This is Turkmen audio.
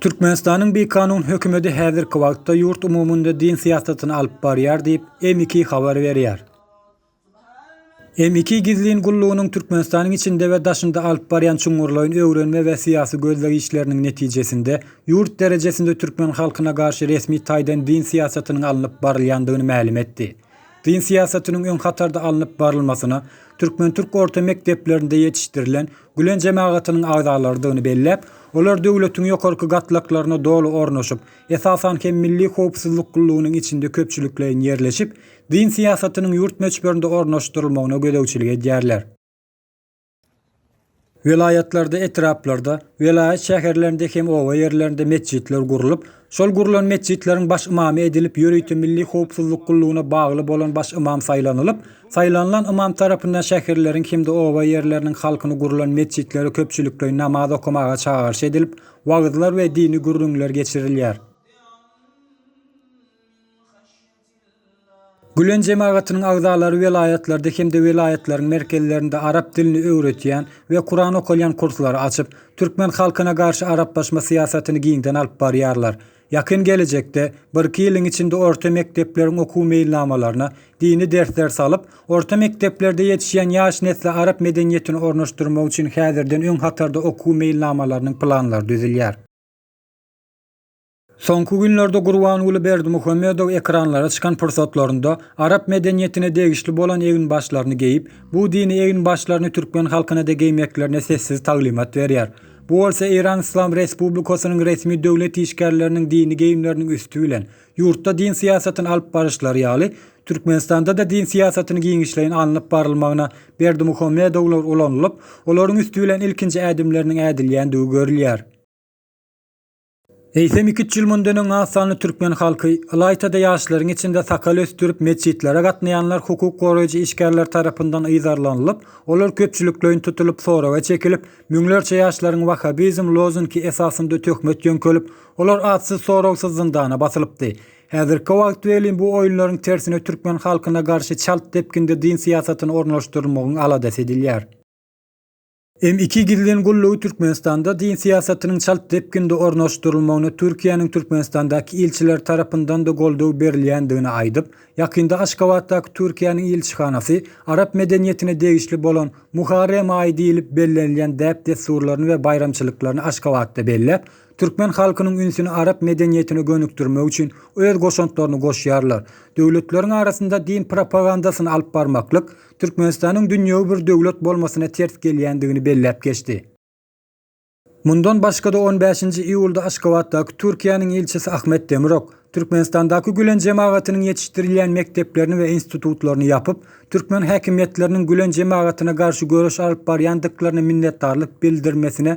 Türkmenistanyň bikanun hökümeti häzirki wagtda ýurt umumynda din syýasatyny alyp barýar diýip, M2 habar berýär. Hem iki gizlin gullugynyň Türkmenistanyň içinde we daşynda alyp barýan çuňňurlaýyn öwrenme we syýasy gözleg işleriniň netijesinde ýurt derejesinde türkmen halkyna garşy resmi taýdan din syýasatynyň alnyp barylýandygyny mälim etdi. Din syýasatynyň öň hatarda alnyp barylmasyna türkmen-türk orta mekdeplerinde ýetişdirilen Gülen jemagatynyň agzalarydygyny belläp, olar döwletiň ýokarky gatlaklaryna doly ornaşyp, esasan hem Milli howpsuzlyk gullugynyň içinde köpçülikleýin ýerleşip, Dyn syýasatynyň ýurt möçberinde ornaşdyrylmagyna gözegçilik edýärler. Welaýatlarda, etraplarda, welaýat şäherlerinde hem oba ýerlerinde metjitler gurlup, şol gurlan metjitleriň baş ymamy edilip, ýörite milli howpsuzlyk gullugyna bagly bolan baş ymam saýlanylyp, saýlanylan ymam tarapyndan şäherleriň hem-de oba ýerleriniň halkyny gurlan metjitlere köpçülikleýin namaz okamaga çagyryş edilip, wagyzlar we dini gürrüňler geçirilýär. Gülen jemagatynyň agzalary welaýatlarda hem-de welaýatlaryň merkezlerinde arap dilini öwredýän we Kuran okalýan kurslary açyp, türkmen halkyna garşy araplaşma syýasatyny giňden alyp barýarlar. Ýakyn gelejekde, birki ýylyň içinde orta mekdepleriň okuw meýilnamalaryna dini dersler salyp, orta mekdeplerde ýetişýän ýaş nesle arap medeniýetini ornaşdyrmak üçin häzirden öň hatarda okuw meýilnamalarynyň planlary düzülýär. Soňky günlerde Gurbanguly Berdimuhamedow ekranlara çykan pursatlarynda arap medeniýetine degişli bolan eginbaşlaryny geýip, bu dini eginbaşlaryny türkmen halkyna-da geýmeklerine sessiz taglymat berýär. Bu bolsa Eýran Yslam Respublikasynyň resmi döwlet işgärleriniň dini geýimleriniň üsti bilen, ýurtda din syýasatyny alyp baryşlary ýaly, Türkmenistanda-da din syýasatyny giňişleýin alnyp barylmagyna Berdimuhamedowlar ulanylyp, olaryň üsti bilen ilkinji ädimleriniň ädilýändigi görülýär. Eýsem iki üç ýyl mundan öň az sanly türkmen halky, ylaýta-da ýaşlaryň içinde sakal ösdürip metjitlere gatnaýanlar hukuk goraýjy işgärler tarapyndan yzarlanylyp, olar köpçülikleýin tutulyp soraga çekilip, müňlerçe ýaşlaryň wahhabizm lozunki esasynda töhmet ýöňkelip, olar atsyz-soragsyz zyndana basylypdy. Häzirki wagt welin bu oýunlaryň tersine türkmen halkyna garşy çalt depginde din syýasatyny ornaşdyrmagyň aladasy edilýär. M-iki gizlin gullugy Türkmenistanda din syýasatynyň çalt depginde ornaşdyrylmagyna Türkiýäniň Türkmenistandaky ilçileri tarapyndan-da goldaw berilýändigini aýdyp, ýakynda Aşgabatdaky Türkiýäniň ilçihanasy arap medeniýetine degişli bolan Muharrem aýy diýlip bellenilýän däp-dessurlaryny we baýramçylyklaryny Aşgabatda belläp, türkmen halkynyň ünsüni arap medeniýetine gönükdirmek üçin öz goşantlaryny goşýarlar. Döwletleriň arasynda din propagandasyny alyp barmaklyk, Türkmenistanyň dünýewi bir döwlet bolmasyna ters gelýändigini belläp geçdi. Mundan başga-da on bäşinji iýulda Aşgabatdaky Türkiýäniň ilçisi Ahmet Demirok, Türkmenistandaky Gülen jemagatynyň ýetişdirilýän mekdeplerini we institutlaryny ýapyp, türkmen häkimiýetleriniň Gülen jemagatyna garşy göreş alyp barýandyklaryna minnetdarlyk bildirmesine